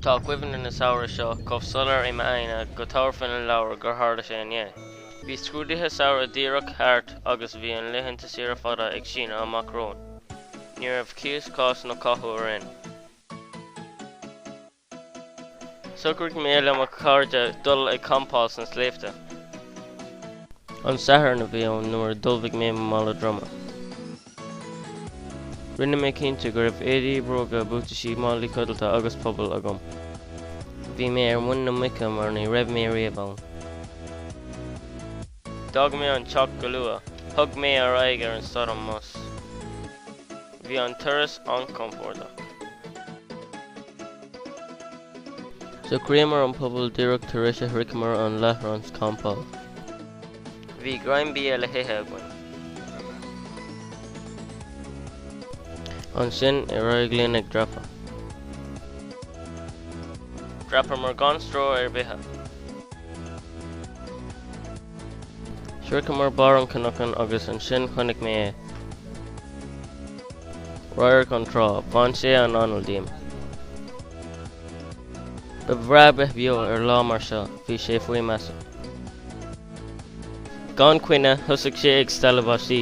Tá cuimhne an tsamhraidh seo chomh soiléir i m'aigne go dtabharfainn an leabhar gur tharla sé inné. Bhí scrúduithe samhraidh díreach thart agus bhí na laethanta saoire fada ag síneadh amach romhainn. Ní raibh cíos, cás nó cathú orainn. Shocraigh mé le mo chairde dul ag campáil sna sléibhte. An Satharn a bhí ann nuair a d'ullmhaigh mé mo mhála droma. Rinne mé cinnte go raibh éadaí, bróga, buataisí, málaí codlata agus puball agam. Bhí mé ar mhuin na muice mar ní raibh mé riamh ann. D'fhág mé an teach go luath. Thug mé aghaidh ar an stad an bhus. Bhí an turas an-chompordach. Shocraíomar an puball díreach tar éis a shroicheamar an láithreán campála. Bhí greim bia le hithe againn. Ansin, ar aghaidh linn ag dreapadh. Dhreapamar gan stró ar bith. Shroicheamar barr an chnocáin agus ansin chonaic mé é. Radharc na trá. Bhain sé an anáil díom. Ba bhreá bheith beo ar lá mar seo. Bhí sé faoi mheasa. Gan choinne, thosaigh sé ag stealladh báistí.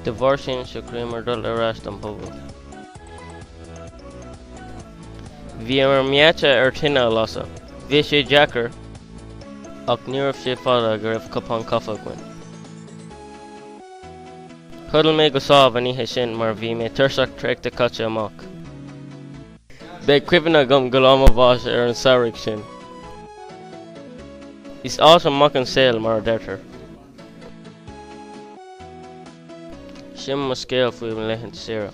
De bharr sin, shocraíomar dul ar ais don phuball. Bhíomar meáite ar tine a lasadh. Bhí sé deacair, ach ní raibh sé fada go raibh cupán caife againn. Chodail mé go sámh an oíche sin mar bhí mé tuirseach traochta caite amach. Beidh cuimhne agam go lá mo bháis ar an samhradh sin. Is ait an mac an saol mar a deirtear. Sin mo scéal faoi mo laethanta saoire.